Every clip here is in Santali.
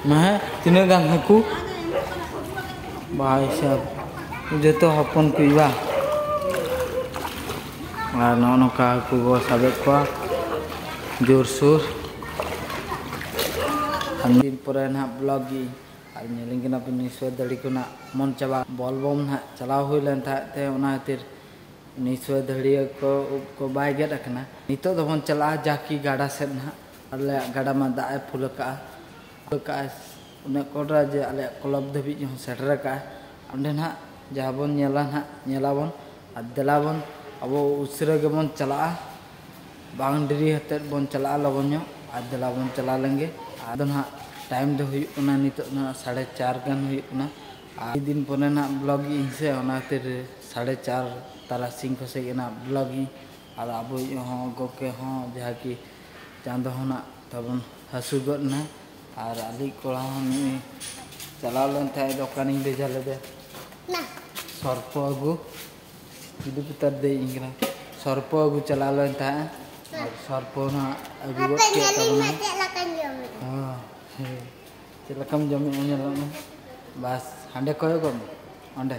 ᱢᱟᱦᱮ ᱛᱤᱱᱟᱹᱜ ᱜᱟᱱ ᱦᱟᱹᱠᱩ ᱵᱟᱭ ᱥᱟᱵ ᱡᱚᱛᱚ ᱦᱚᱯᱚᱱ ᱠᱚ ᱵᱟ ᱟᱨ ᱱᱚᱜᱼᱚ ᱱᱚᱝᱠᱟ ᱦᱟᱹᱠᱩ ᱵᱚ ᱥᱟᱵᱮᱫ ᱠᱚᱣᱟ ᱡᱳᱨᱥᱳᱨ ᱟᱨ ᱫᱤᱱ ᱯᱚᱨᱮ ᱱᱟᱦᱟᱜ ᱵᱞᱚᱜ ᱜᱮ ᱟᱨ ᱧᱮᱞᱤᱧ ᱠᱟᱱᱟ ᱯᱮ ᱱᱤᱥᱚᱭ ᱫᱟᱲᱮ ᱠᱚ ᱱᱟᱜ ᱢᱚᱱ ᱪᱟᱵᱟ ᱵᱚᱞ ᱵᱚᱢ ᱱᱟᱦᱟᱜ ᱪᱟᱞᱟᱣ ᱦᱩᱭ ᱞᱮᱱ ᱛᱟᱦᱮᱸᱫ ᱛᱮ ᱚᱱᱟ ᱠᱷᱟᱹᱛᱤᱨ ᱱᱤᱥᱚᱭ ᱫᱟᱹᱲᱤᱭᱟᱹ ᱠᱚ ᱩᱵ ᱠᱚ ᱵᱟᱭ ᱜᱮᱫ ᱟᱠᱟᱱᱟ ᱱᱤᱛᱚᱜ ᱫᱚᱵᱚᱱ ᱪᱟᱞᱟᱜᱼᱟ ᱡᱟᱠᱤ ᱜᱟᱰᱟ ᱥᱮᱫ ᱱᱟᱦᱟᱜ ᱟᱞᱮᱭᱟᱜ ᱜᱟᱰᱟ ᱢᱟ ᱫᱟᱜ ᱮ ᱯᱷᱩᱞ ᱟᱠᱟᱫᱼᱟ ᱯᱷᱩᱞ ᱟᱠᱟᱫᱼᱟᱭ ᱩᱱᱟᱹᱜ ᱠᱚᱰᱨᱟ ᱡᱮ ᱟᱞᱮᱭᱟᱜ ᱠᱞᱚᱵᱽ ᱫᱷᱟᱹᱵᱤᱡ ᱦᱚᱸ ᱥᱮᱴᱮᱨ ᱟᱠᱟᱫᱼᱟᱭ ᱚᱸᱰᱮ ᱱᱟᱦᱟᱜ ᱡᱟᱦᱟᱸ ᱵᱚᱱ ᱧᱮᱞᱟ ᱱᱟᱦᱟᱜ ᱧᱮᱞ ᱟᱵᱚᱱ ᱟᱨ ᱫᱮᱞᱟ ᱵᱚᱱ ᱟᱵᱚ ᱩᱥᱟᱹᱨᱟ ᱜᱮᱵᱚᱱ ᱪᱟᱞᱟᱜᱼᱟ ᱵᱟᱝ ᱰᱮᱨᱤ ᱟᱛᱮᱫ ᱵᱚᱱ ᱪᱟᱞᱟᱜᱼᱟ ᱞᱚᱜᱚᱱ ᱧᱚᱜ ᱟᱨ ᱫᱮᱞᱟ ᱵᱚᱱ ᱪᱟᱞᱟᱣ ᱞᱮᱱ ᱜᱮ ᱟᱫᱚ ᱱᱟᱦᱟᱜ ᱴᱟᱭᱤᱢ ᱫᱚ ᱦᱩᱭᱩᱜ ᱠᱟᱱᱟ ᱱᱤᱛᱚᱜ ᱱᱟᱦᱟᱜ ᱥᱟᱲᱮ ᱪᱟᱨ ᱜᱟᱱ ᱦᱩᱭᱩᱜ ᱠᱟᱱᱟ ᱟᱨ ᱟᱹᱰᱤ ᱫᱤᱱ ᱯᱚᱨᱮ ᱱᱟᱦᱟᱜ ᱵᱞᱚᱜᱽ ᱮᱫᱟᱹᱧ ᱥᱮ ᱚᱱᱟ ᱠᱷᱟᱹᱛᱤᱨ ᱥᱟᱲᱮ ᱪᱟᱨ ᱛᱟᱨᱟᱥᱤᱧ ᱠᱚᱥᱮᱡ ᱜᱮ ᱱᱟᱦᱟᱜ ᱵᱞᱚᱜᱽ ᱤᱧ ᱟᱫᱚ ᱟᱵᱚᱭᱤᱡ ᱦᱚᱸ ᱜᱚᱢᱠᱮ ᱦᱚᱸ ᱡᱟᱦᱟᱸ ᱠᱤ ᱪᱟᱸᱫᱚ ᱦᱚᱸ ᱱᱟᱜ ᱛᱟᱵᱚᱱ ᱦᱟᱹᱥᱩᱨ ᱜᱚᱫ ᱮᱱᱟᱭ ᱟᱨ ᱟᱞᱮᱭᱤᱡ ᱠᱚᱲᱟ ᱦᱚᱸ ᱱᱩᱭ ᱪᱟᱞᱟᱣ ᱞᱮᱱ ᱛᱟᱦᱮᱸᱫ ᱫᱚ ᱚᱠᱟᱨᱤᱧ ᱵᱷᱮᱡᱟ ᱞᱮᱫᱮᱭᱟ ᱥᱚᱨᱯᱚ ᱟᱹᱜᱩ ᱡᱩᱫᱤ ᱯᱩᱛᱟᱨ ᱫᱮᱡ ᱤᱧ ᱠᱟᱱᱟ ᱥᱚᱨᱯᱚ ᱟᱹᱜᱩ ᱪᱟᱞᱟᱣ ᱞᱮᱱ ᱛᱟᱦᱮᱸᱫ ᱟᱨ ᱥᱚᱨᱯᱚ ᱱᱟᱜ ᱟᱹᱜᱩ ᱜᱚᱫ ᱠᱮᱫ ᱛᱟᱵᱚᱱᱟᱭ ᱪᱮᱫ ᱞᱮᱠᱟᱢ ᱡᱚᱢᱮᱫᱼᱟ ᱧᱮᱞᱚᱜ ᱢᱮ ᱵᱟᱥ ᱦᱟᱸᱰᱮ ᱠᱚᱭᱚᱜᱚᱜ ᱢᱮ ᱚᱸᱰᱮ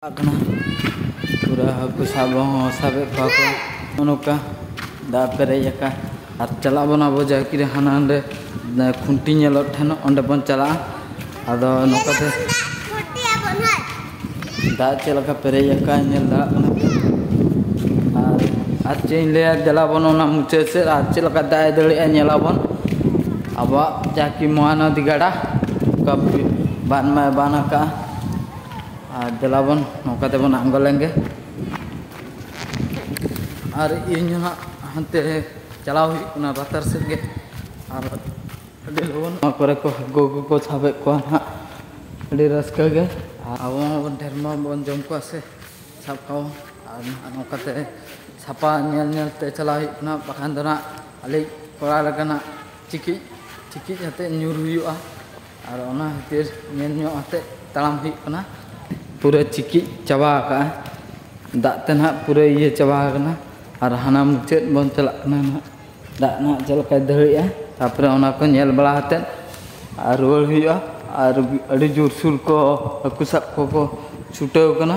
ᱪᱟᱞᱟᱜ ᱠᱟᱱᱟ ᱯᱩᱨᱟᱹ ᱦᱟᱹᱠᱩ ᱥᱟᱵ ᱦᱚᱸ ᱥᱟᱵᱮᱫ ᱠᱚᱣᱟ ᱠᱚ ᱱᱚᱜᱼᱚ ᱱᱚᱝᱠᱟ ᱫᱟᱜ ᱯᱮᱨᱮᱡ ᱟᱠᱟᱱ ᱟᱨ ᱪᱟᱞᱟᱜ ᱵᱚᱱ ᱟᱵᱚ ᱡᱟᱦᱟᱸ ᱠᱤᱨᱮ ᱦᱟᱱᱟ ᱱᱟᱸᱰᱮ ᱠᱷᱩᱱᱴᱤ ᱧᱮᱞᱚᱜ ᱴᱷᱮᱱ ᱚᱸᱰᱮ ᱵᱚᱱ ᱪᱟᱞᱟᱜᱼᱟ ᱟᱫᱚ ᱱᱚᱝᱠᱟᱛᱮ ᱫᱟᱜ ᱪᱮᱫ ᱞᱮᱠᱟ ᱯᱮᱨᱮᱡ ᱟᱠᱟᱱ ᱧᱮᱞ ᱫᱟᱲᱮᱭᱟᱜ ᱠᱟᱱᱟ ᱯᱮ ᱟᱨ ᱟᱨ ᱪᱮᱫ ᱤᱧ ᱞᱟᱹᱭᱟ ᱫᱮᱞᱟᱵᱚᱱ ᱚᱱᱟ ᱢᱩᱪᱟᱹᱫ ᱥᱮᱫ ᱟᱨ ᱪᱮᱫ ᱞᱮᱠᱟ ᱫᱟᱜ ᱮ ᱫᱟᱹᱲᱮᱜᱼᱟ ᱧᱮᱞᱟᱵᱚᱱ ᱟᱵᱚᱣᱟᱜ ᱡᱟᱦᱟᱸ ᱠᱤ ᱢᱚᱦᱟᱱᱚᱫᱤ ᱜᱟᱰᱟ ᱚᱱᱠᱟ ᱵᱟᱱ ᱢᱟᱭ ᱵᱟᱱ ᱟᱠᱟᱫᱼᱟ ᱟᱨ ᱫᱮᱞᱟ ᱵᱚᱱ ᱱᱚᱝᱠᱟ ᱛᱮᱵᱚᱱ ᱟᱬᱜᱚ ᱞᱮᱱᱜᱮ ᱟᱨ ᱤᱧ ᱦᱚᱸ ᱦᱟᱸᱜ ᱦᱟᱱᱛᱮ ᱪᱟᱞᱟᱣ ᱦᱩᱭᱩᱜ ᱠᱟᱱᱟ ᱞᱟᱛᱟᱨ ᱥᱮᱫ ᱜᱮ ᱟᱨ ᱟᱹᱰᱤ ᱞᱚᱜᱚᱱ ᱱᱚᱣᱟ ᱠᱚᱨᱮ ᱠᱚ ᱦᱟᱹᱠᱩ ᱠᱚᱠᱚ ᱥᱟᱵᱮᱫ ᱠᱚᱣᱟ ᱦᱟᱸᱜ ᱟᱹᱰᱤ ᱨᱟᱹᱥᱠᱟᱹ ᱜᱮ ᱟᱨ ᱟᱵᱚ ᱢᱟᱵᱚᱱ ᱰᱷᱮᱨ ᱢᱟᱵᱚᱱ ᱡᱚᱢ ᱠᱚᱣᱟ ᱥᱮ ᱥᱟᱵ ᱠᱚᱣᱟ ᱟᱨ ᱱᱟᱦᱟᱜ ᱱᱚᱝᱠᱟᱛᱮ ᱥᱟᱯᱟ ᱧᱮᱞ ᱧᱮᱞ ᱛᱮ ᱪᱟᱞᱟᱣ ᱦᱩᱭᱩᱜ ᱠᱟᱱᱟ ᱵᱟᱠᱷᱟᱱ ᱫᱚ ᱱᱟᱦᱟᱜ ᱟᱞᱮ ᱠᱚᱲᱟ ᱞᱮᱠᱟᱱᱟᱜ ᱪᱤᱠᱤᱡ ᱪᱤᱠᱤᱡ ᱟᱛᱮᱫ ᱧᱩᱨ ᱦᱩᱭᱩᱜᱼᱟ ᱟᱨ ᱚᱱᱟ ᱠᱷᱟᱹᱛᱤᱨ ᱧᱮᱞ ᱧᱚᱜ ᱟᱛᱮᱫ ᱛᱟᱲᱟᱢ ᱦᱩᱭᱩᱜ ᱠᱟᱱᱟ ᱯᱩᱨᱟᱹ ᱪᱤᱠᱤᱡ ᱪᱟᱵᱟ ᱟᱠᱟᱫᱼᱟ ᱫᱟᱜ ᱛᱮ ᱱᱟᱦᱟᱜ ᱯᱩᱨᱟᱹ ᱤᱭᱟᱹ ᱪᱟᱵᱟ ᱟᱠᱟᱱᱟ ᱟᱨ ᱦᱟᱱᱟ ᱢᱩᱪᱟᱹᱫ ᱵᱚᱱ ᱪᱟᱞᱟᱜ ᱠᱟᱱᱟ ᱱᱟᱦᱟᱜ ᱫᱟᱜ ᱱᱟᱦᱟᱜ ᱪᱮᱫ ᱞᱮᱠᱟᱭ ᱫᱟᱹᱲᱮᱜᱼᱟ ᱛᱟᱨᱯᱚᱨᱮ ᱚᱱᱟ ᱠᱚ ᱧᱮᱞ ᱵᱟᱲᱟ ᱟᱛᱮᱫ ᱟᱨ ᱨᱩᱣᱟᱹᱲ ᱦᱩᱭᱩᱜᱼᱟ ᱟᱨ ᱟᱹᱰᱤ ᱡᱳᱨᱥᱳᱨ ᱠᱚ ᱦᱟᱹᱠᱩ ᱥᱟᱵ ᱠᱚᱠᱚ ᱪᱷᱩᱴᱟᱹᱣ ᱠᱟᱱᱟ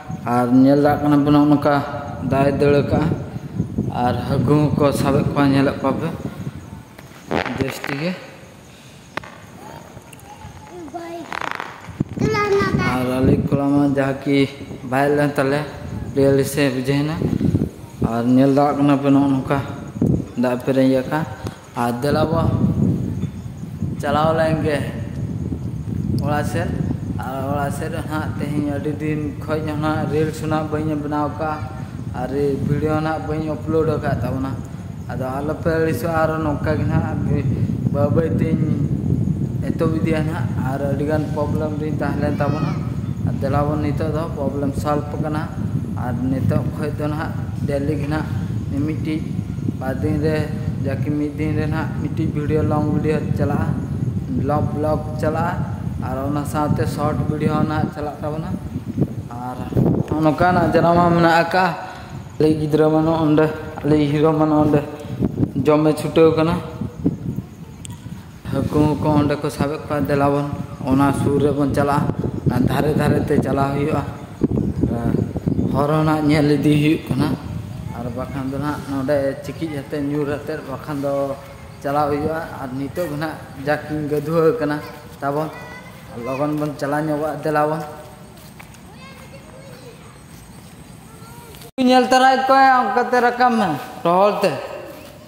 ᱟᱨ ᱧᱮᱞ ᱫᱟᱲᱮᱭᱟᱜ ᱠᱟᱱᱟ ᱯᱮ ᱱᱚᱜᱼᱚ ᱱᱚᱝᱠᱟ ᱫᱟᱜ ᱮ ᱫᱟᱹᱲ ᱟᱠᱟᱫᱼᱟ ᱟᱨ ᱦᱟᱹᱠᱩ ᱦᱚᱸᱠᱚ ᱥᱟᱵᱮᱫ ᱠᱚᱣᱟ ᱧᱮᱞᱮᱫ ᱠᱚᱣᱟ ᱯᱮ ᱡᱟᱹᱥᱛᱤ ᱜᱮ ᱟᱨ ᱟᱞᱮ ᱠᱚᱲᱟ ᱢᱟ ᱡᱟᱦᱟᱸ ᱠᱤ ᱵᱟᱭ ᱞᱮᱱ ᱛᱟᱞᱮ ᱯᱞᱮᱭᱟᱞᱤ ᱥᱮ ᱵᱩᱡᱷᱟᱹᱣᱮᱱᱟ ᱟᱨ ᱧᱮᱞ ᱫᱟᱲᱮᱭᱟᱜ ᱠᱟᱱᱟ ᱯᱮ ᱱᱚᱜᱼᱚ ᱱᱚᱝᱠᱟ ᱫᱟᱜ ᱯᱮᱨᱮᱡ ᱟᱠᱟᱱ ᱟᱨ ᱫᱮᱞᱟ ᱵᱚ ᱪᱟᱞᱟᱣ ᱞᱮᱱ ᱜᱮ ᱚᱲᱟᱜ ᱥᱮᱫ ᱟᱨ ᱚᱲᱟᱜ ᱥᱮᱫ ᱦᱟᱸᱜ ᱛᱮᱦᱮᱧ ᱟᱹᱰᱤ ᱫᱤᱱ ᱠᱷᱚᱡ ᱦᱟᱸᱜ ᱨᱤᱞᱥ ᱦᱟᱸᱜ ᱵᱟᱹᱧ ᱵᱮᱱᱟᱣ ᱠᱟᱜᱼᱟ ᱟᱨ ᱵᱷᱤᱰᱤᱭᱳ ᱦᱟᱸᱜ ᱵᱟᱹᱧ ᱟᱯᱞᱳᱰ ᱟᱠᱟᱫ ᱛᱟᱵᱚᱱᱟ ᱟᱫᱚ ᱟᱞᱚᱯᱮ ᱟᱹᱲᱤᱥᱚᱜᱼᱟ ᱟᱨ ᱱᱚᱝᱠᱟ ᱜᱮ ᱦᱟᱸᱜ ᱵᱟᱹᱭ ᱵᱟᱹᱭ ᱛᱤᱧ ᱮᱛᱚᱦᱚᱵ ᱤᱫᱤᱭᱟ ᱦᱟᱸᱜ ᱟᱨ ᱟᱹᱰᱤᱜᱟᱱ ᱯᱨᱚᱵᱞᱮᱢ ᱨᱤᱧ ᱛᱟᱦᱮᱸ ᱞᱮᱱ ᱛᱟᱵᱚᱱᱟ ᱟᱨ ᱫᱮᱞᱟ ᱵᱚᱱ ᱱᱤᱛᱚᱜ ᱫᱚ ᱯᱨᱚᱵᱞᱮᱢ ᱥᱚᱞᱵᱷ ᱠᱟᱱᱟ ᱟᱨ ᱱᱤᱛᱚᱜ ᱠᱷᱚᱡ ᱫᱚ ᱦᱟᱸᱜ ᱰᱮᱞᱤ ᱜᱮ ᱦᱟᱸᱜ ᱢᱤᱢᱤᱫᱴᱤᱡ ᱵᱟᱨ ᱫᱤᱱ ᱨᱮ ᱡᱟᱠᱤ ᱢᱤᱫ ᱫᱤᱱ ᱨᱮ ᱱᱟᱦᱟᱜ ᱢᱤᱫᱴᱤᱡ ᱵᱷᱤᱰᱤᱭᱳ ᱞᱚᱝ ᱵᱷᱤᱰᱤᱭᱳ ᱪᱟᱞᱟᱜᱼᱟ ᱵᱞᱚᱠ ᱵᱞᱚᱠ ᱪᱟᱞᱟᱜᱼᱟ ᱟᱨ ᱚᱱᱟ ᱥᱟᱶᱛᱮ ᱥᱚᱨᱴ ᱵᱷᱤᱰᱤᱭᱳ ᱦᱚᱸ ᱱᱟᱦᱟᱜ ᱪᱟᱞᱟᱜ ᱛᱟᱵᱚᱱᱟ ᱟᱨ ᱱᱚᱝᱠᱟᱱᱟᱜ ᱡᱟᱭᱜᱟ ᱦᱚᱸ ᱢᱮᱱᱟᱜ ᱟᱠᱟᱫᱼᱟ ᱟᱞᱮ ᱜᱤᱫᱽᱨᱟᱹ ᱢᱟ ᱱᱚᱸᱰᱮ ᱟᱞᱮᱭᱤᱡ ᱦᱤᱨᱳ ᱢᱟ ᱱᱚᱸᱰᱮ ᱡᱚᱢᱮ ᱪᱷᱩᱴᱟᱹᱣ ᱠᱟᱱᱟ ᱦᱟᱹᱠᱩ ᱠᱚ ᱚᱸᱰᱮ ᱠᱚ ᱥᱟᱵᱮᱫ ᱠᱚᱣᱟ ᱫᱮᱞᱟ ᱵᱚᱱ ᱚᱱᱟ ᱥᱩᱨ ᱨᱮᱵᱚᱱ ᱪᱟᱞᱟᱜᱼᱟ ᱟᱨ ᱫᱷᱟᱨᱮ ᱫᱷᱟᱨᱮ ᱛᱮ ᱪᱟᱞᱟᱣ ᱦᱩᱭᱩᱜᱼᱟ ᱦᱚᱨ ᱦᱚᱸ ᱱᱟᱜ ᱧᱮᱞ ᱤᱫᱤ ᱦᱩᱭᱩᱜ ᱠᱟᱱᱟ ᱟᱨ ᱵᱟᱠᱷᱟᱱ ᱫᱚ ᱱᱟᱜ ᱱᱚᱰᱮ ᱪᱤᱠᱤᱡ ᱟᱛᱮ ᱧᱩᱨ ᱟᱛᱮ ᱵᱟᱠᱷᱟᱱ ᱫᱚ ᱪᱟᱞᱟᱣ ᱦᱩᱭᱩᱜᱼᱟ ᱟᱨ ᱱᱤᱛᱚᱜ ᱫᱚ ᱱᱟᱜ ᱡᱟᱠᱤᱧ ᱜᱟᱹᱫᱷᱩᱣᱟᱹ ᱟᱠᱟᱱᱟ ᱛᱟᱵᱚᱱ ᱞᱚᱜᱚᱱ ᱵᱚᱱ ᱪᱟᱞᱟᱣ ᱧᱚᱜᱚᱜᱼᱟ ᱫᱮᱞᱟ ᱵᱚᱱ ᱧᱮᱞ ᱛᱟᱨᱟᱭᱮᱫ ᱠᱚᱣᱟ ᱚᱱᱠᱟᱛᱮ ᱨᱟᱠᱟᱵ ᱢᱮ ᱨᱚᱦᱚᱲ ᱛᱮ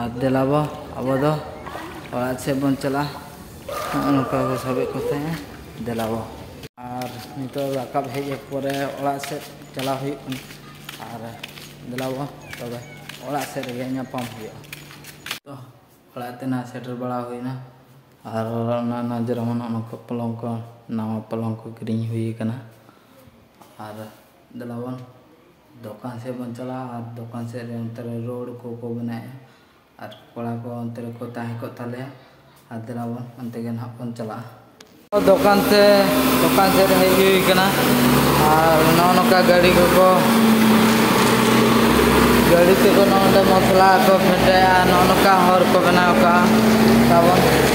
ᱟᱨ ᱫᱮᱞᱟ ᱵᱚ ᱟᱵᱚ ᱫᱚ ᱚᱲᱟᱜ ᱥᱮᱫ ᱵᱚᱱ ᱪᱟᱞᱟᱜᱼᱟ ᱱᱚᱜᱼᱚ ᱱᱚᱝᱠᱟ ᱠᱚ ᱥᱟᱵᱮᱫ ᱠᱚ ᱛᱟᱦᱮᱸᱜᱼᱟ ᱫᱮᱞᱟ ᱵᱚ ᱟᱨ ᱱᱤᱛᱚᱜ ᱨᱟᱠᱟᱵ ᱦᱮᱡ ᱯᱚᱨᱮ ᱚᱲᱟᱜ ᱥᱮᱫ ᱪᱟᱞᱟᱣ ᱦᱩᱭᱩᱜ ᱠᱟᱱᱟ ᱟᱨ ᱫᱮᱞᱟ ᱵᱚ ᱛᱚᱵᱮ ᱚᱲᱟᱜ ᱥᱮᱫ ᱨᱮᱜᱮ ᱧᱟᱯᱟᱢ ᱦᱩᱭᱩᱜᱼᱟ ᱛᱚ ᱚᱲᱟᱜ ᱛᱮ ᱱᱟᱜ ᱥᱮᱴᱮᱨ ᱵᱟᱲᱟ ᱦᱩᱭᱱᱟ ᱟᱨ ᱚᱱᱟ ᱱᱟᱡᱽ ᱨᱮᱦᱚᱸ ᱱᱚᱜᱼᱚ ᱱᱚᱝᱠᱟ ᱯᱚᱞᱚᱝ ᱠᱚ ᱱᱟᱣᱟ ᱯᱚᱞᱚᱝ ᱠᱚ ᱠᱤᱨᱤᱧ ᱦᱩᱭ ᱠᱟᱱᱟ ᱟᱨ ᱫᱮᱞᱟᱵᱚᱱ ᱫᱚᱠᱟᱱ ᱥᱮᱫ ᱵᱚᱱ ᱪᱟᱞᱟᱜᱼᱟ ᱟᱨ ᱫᱚᱠᱟᱱ ᱥᱮᱫ ᱨᱮ ᱚᱱᱛᱮ ᱨᱮ ᱨᱳᱰ ᱠᱚᱠᱚ ᱵᱮᱱᱟᱣᱮᱫᱼᱟ ᱟᱨ ᱠᱚᱲᱟ ᱠᱚ ᱚᱱᱛᱮ ᱨᱮᱠᱚ ᱛᱟᱦᱮᱸ ᱠᱚᱜ ᱛᱟᱞᱮᱭᱟ ᱟᱨ ᱫᱮᱞᱟᱵᱚᱱ ᱚᱱᱛᱮ ᱜᱮ ᱱᱟᱦᱟᱜ ᱵᱚᱱ ᱪᱟᱞᱟᱜᱼᱟ ᱫᱚᱠᱟᱱ ᱛᱮ ᱫᱚᱠᱟᱱ ᱥᱮᱫ ᱨᱮ ᱦᱮᱡ ᱦᱩᱭ ᱠᱟᱱᱟ ᱟᱨ ᱱᱚᱜᱼᱚ ᱱᱚᱝᱠᱟ ᱜᱟᱹᱰᱤ ᱠᱚᱠᱚ ᱜᱟᱹᱰᱤ ᱛᱮᱠᱚ ᱱᱚᱜᱼᱚ ᱱᱚᱸᱰᱮ ᱢᱚᱥᱞᱟ ᱠᱚ ᱯᱷᱮᱰᱟᱭᱟ ᱱᱚᱜᱼᱚ ᱱᱚᱝᱠᱟ ᱦᱚᱨ ᱠᱚ ᱵᱮᱱᱟᱣ ᱠᱟᱜᱼᱟ ᱛᱟᱵᱚᱱ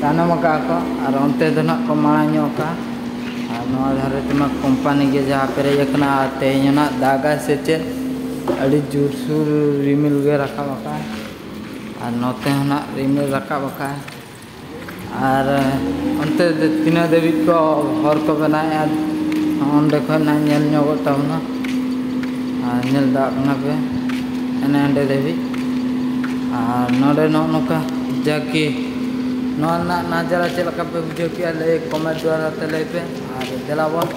ᱛᱟᱭᱱᱚᱢ ᱟᱠᱟᱜᱼᱟ ᱠᱚ ᱟᱨ ᱚᱱᱛᱮ ᱫᱚ ᱱᱟᱦᱟᱜ ᱠᱚ ᱢᱟᱲᱟᱝ ᱧᱚᱜ ᱟᱠᱟᱜᱼᱟ ᱟᱨ ᱱᱚᱣᱟ ᱫᱷᱟᱨᱮ ᱛᱮᱢᱟ ᱠᱳᱢᱯᱟᱱᱤ ᱜᱮ ᱡᱟᱦᱟᱸ ᱯᱮᱨᱮᱡ ᱟᱠᱟᱱᱟ ᱟᱨ ᱛᱮᱦᱮᱧ ᱦᱚᱸ ᱱᱟᱦᱟᱜ ᱫᱟᱜᱟᱭ ᱥᱮ ᱪᱮᱫ ᱟᱹᱰᱤ ᱡᱳᱨ ᱥᱳᱨ ᱨᱤᱢᱤᱞ ᱜᱮ ᱨᱟᱠᱟᱵ ᱟᱠᱟᱫᱼᱟᱭ ᱟᱨ ᱱᱚᱛᱮ ᱦᱚᱸ ᱱᱟᱦᱟᱜ ᱨᱤᱢᱤᱞ ᱨᱟᱠᱟᱵ ᱟᱠᱟᱫᱼᱟᱭ ᱟᱨ ᱚᱱᱛᱮ ᱫᱚ ᱛᱤᱱᱟᱹᱜ ᱫᱷᱟᱹᱵᱤᱡ ᱠᱚ ᱦᱚᱨ ᱠᱚ ᱵᱮᱱᱟᱣᱮᱫᱼᱟ ᱚᱸᱰᱮ ᱠᱷᱚᱱ ᱱᱟᱦᱟᱜ ᱧᱮᱞ ᱧᱚᱜᱚᱜ ᱛᱟᱵᱚᱱᱟ ᱟᱨ ᱧᱮᱞ ᱫᱟᱲᱮᱭᱟᱜ ᱠᱟᱱᱟ ᱯᱮ ᱦᱟᱱᱮ ᱦᱟᱸᱰᱮ ᱫᱷᱟᱹᱵᱤᱡ ᱟᱨ ᱱᱚᱰᱮ ᱱᱚᱜᱼᱚ ᱱᱚᱝᱠᱟ ᱡᱟᱠᱤ ᱱᱚᱣᱟ ᱨᱮᱱᱟᱜ ᱱᱟᱡᱟᱨᱟ ᱪᱮᱫ ᱞᱮᱠᱟ ᱯᱮ ᱵᱩᱡᱷᱟᱹᱣ ᱠᱮᱜᱼᱟ ᱞᱟᱹᱭ ᱠᱚᱢᱮᱱᱴ ᱫᱚᱣᱟᱨᱟ ᱛᱮ ᱞᱟᱹᱭ ᱯᱮ ᱟᱨ ᱫᱮᱞᱟᱵᱚᱱ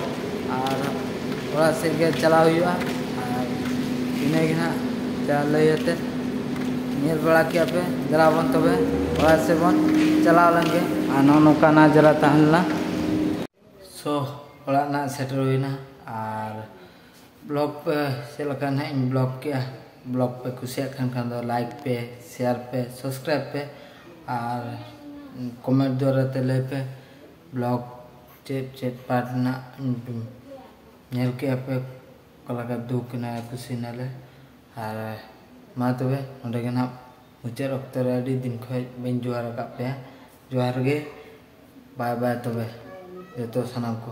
ᱟᱨ ᱚᱲᱟᱜ ᱥᱮᱫ ᱜᱮ ᱪᱟᱞᱟᱣ ᱦᱩᱭᱩᱜᱼᱟ ᱟᱨ ᱤᱱᱟᱹᱜᱮ ᱦᱟᱸᱜ ᱡᱟ ᱞᱟᱹᱭ ᱟᱛᱮ ᱧᱮᱞ ᱵᱟᱲᱟ ᱠᱮᱜᱼᱟ ᱯᱮ ᱫᱮᱞᱟᱵᱚᱱ ᱛᱚᱵᱮ ᱚᱲᱟᱜ ᱥᱮᱫ ᱵᱚᱱ ᱪᱟᱞᱟᱣ ᱞᱮᱱᱜᱮ ᱟᱨ ᱱᱚᱜᱼᱚ ᱱᱚᱝᱠᱟ ᱱᱟᱡᱟᱨᱟ ᱛᱟᱦᱮᱸ ᱞᱮᱱᱟ ᱥᱚ ᱚᱲᱟᱜ ᱨᱮᱱᱟᱜ ᱥᱮᱴᱮᱨ ᱦᱩᱭᱱᱟ ᱟᱨ ᱵᱞᱚᱜ ᱯᱮ ᱪᱮᱫ ᱞᱮᱠᱟ ᱱᱟᱦᱟᱜ ᱤᱧ ᱵᱞᱚᱜ ᱠᱮᱜᱼᱟ ᱵᱞᱚᱜ ᱯᱮ ᱠᱩᱥᱤᱭᱟᱜ ᱠᱟᱱ ᱠᱷᱟᱱ ᱫᱚ ᱞᱟᱭᱤᱠ ᱯᱮ ᱥᱮᱭᱟᱨ ᱯᱮ ᱥᱟᱵᱥᱠᱨᱟᱭᱤᱵ ᱯᱮ ᱟᱨ ᱠᱚᱢᱮᱱᱴ ᱫᱚᱣᱟᱨᱟ ᱛᱮ ᱞᱟᱹᱭ ᱯᱮ ᱵᱞᱚᱜ ᱪᱮᱫ ᱪᱮᱫ ᱯᱟᱨᱴ ᱨᱮᱱᱟᱜ ᱧᱮᱞ ᱠᱮᱜᱼᱟ ᱯᱮ ᱚᱠᱟ ᱞᱮᱠᱟ ᱫᱩᱠ ᱮᱱᱟ ᱠᱩᱥᱤ ᱮᱱᱟᱞᱮ ᱟᱨ ᱢᱟ ᱛᱚᱵᱮ ᱱᱚᱰᱮ ᱜᱮ ᱱᱟᱦᱟᱜ ᱢᱩᱪᱟᱹᱫ ᱚᱠᱛᱚ ᱨᱮ ᱟᱹᱰᱤ ᱫᱤᱱ ᱠᱷᱚᱡ ᱵᱟᱹᱧ ᱡᱚᱦᱟᱨ ᱟᱠᱟᱫ ᱯᱮᱭᱟ ᱡᱚᱦᱟᱨ ᱜᱮ ᱵᱟᱭ ᱵᱟᱭ ᱛᱚᱵᱮ ᱡᱚᱛᱚ ᱥᱟᱱᱟᱢ ᱠᱚ